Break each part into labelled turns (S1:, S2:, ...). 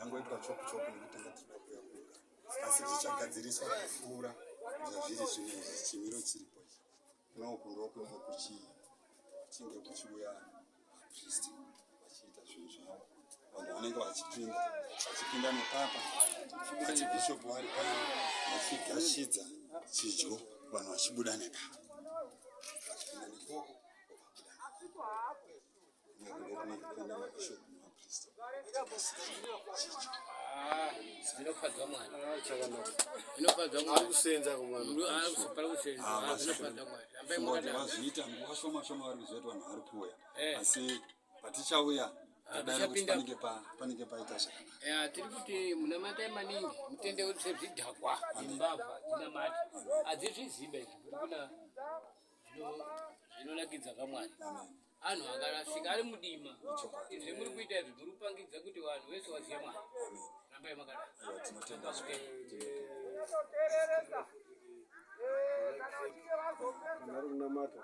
S1: yangoitwa chopu chopu nekuti yatinoda kuyakuka asi zvichagadziriswa kupfuura zvazviri zvino izvi chimiro chiripo ichi noku ndokunge kuchii kuchinge kuchiuya vapristi vachiita zvinhu zvavo vanhu vanenge vachipinda vachipinda nepapa vachibhishopu vari pano vachigashidza chidyo vanhu vachibuda nepapa vachipinda nekoko zvinofadza mwari zvinofadza mwari akusenza kumwana akuzopara kusenza zvinofadza mwari ambai mwakadaro vazviita nguva shoma shoma vari kuzoita vanhu vari kuuya asi patichauya panenge panenge paita zvakanaka tiri kuti munamatai maningi mutende wese zvidhakwa imbavha dzinamati adzizviziva izvi kuna zvinonakidza kamwari anhu akarasika ari mudima zvemuri kuita izvi muri kupangidza kuti vanhu vese vazive mwari rambai makadai vanhu vari kunamata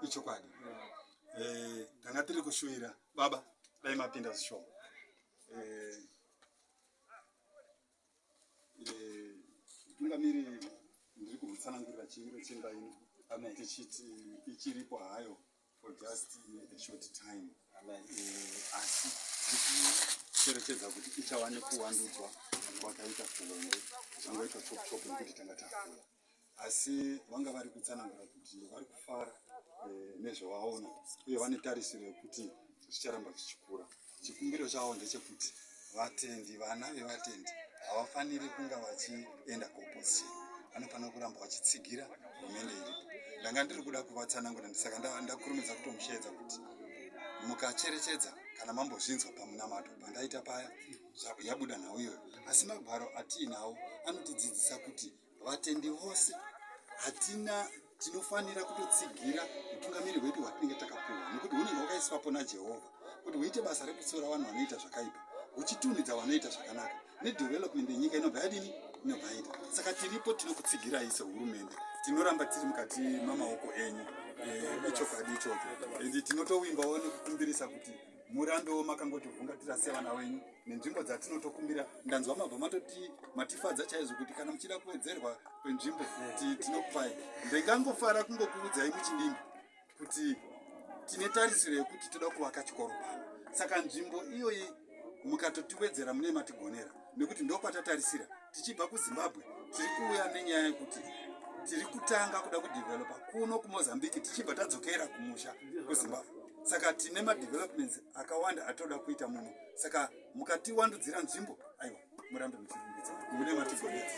S1: ichokwadi eh, tanga tiri kushuvira baba dai mapinda zvishoma eh, Mutungamiri ndiri kutsanangurira chimiro chemba ino tichiti ichiripo hayo for just a short time eh, asi tichicherechedza kuti ichawane kuwandudzwa kwakaita kuhombe zvangoita chop chop nekuti tanga tafuya asi vanga vari kutsanangura kuti vari kufara eh, nezvavaona uye vane tarisiro yekuti zvicharamba zvichikura chikumbiro chavo ndechekuti vatendi vana vevatendi havafaniri kunga vachienda kuopposition vanofanira kuramba vachitsigira hurumende iripo ndanga ndiri kuda kuvatsanangura ndisaka ndakurumidza kutomusheedza kuti mukacherechedza kana mambozvinzwa pamunamato pandaita paya yabuda nhau iyoyo asi magwaro atiinawo anotidzidzisa kuti vatendi vose hatina tinofanira kutotsigira utungamiri hwedu hwatinenge takapuwa nekuti hunenge hwakaiswapo najehovha kuti huite basa rekutsiura vanhu vanoita zvakaipa huchitunhidza vanoita zvakanaka nedevelopment yenyika inobva yadini inobva yaita saka tiripo tinokutsigirai sehurumende tinoramba tiri mukati mamaoko enyu eh, ichokwadi ichocho and tinotowimbawo nekukumbirisa kuti murambewo makangotivhungatira sevana wenyu nenzvimbo dzatinotokumbira ndanzwa mabva matoti matifadza chaizvo kuti kana muchida kuwedzerwa kwenzvimbo tinokupai ndingangofara kungokuudzai muchidimbi kuti tine tarisiro yekuti toda kuvaka chikoro pano saka nzvimbo iyoyi mukatotiwedzera mune matigonera nekuti ndokwatatarisira tichibva kuzimbabwe tiri kuuya nenyaya yekuti tiri kutanga kuda kudevelopa kuno kumozambique tichibva tadzokera kumusha kuzimbabwe saka tine madevelopments akawanda atoda kuita muno saka mukatiwandudzira nzvimbo aiwa murambe muchirumbidza mune matigonetsa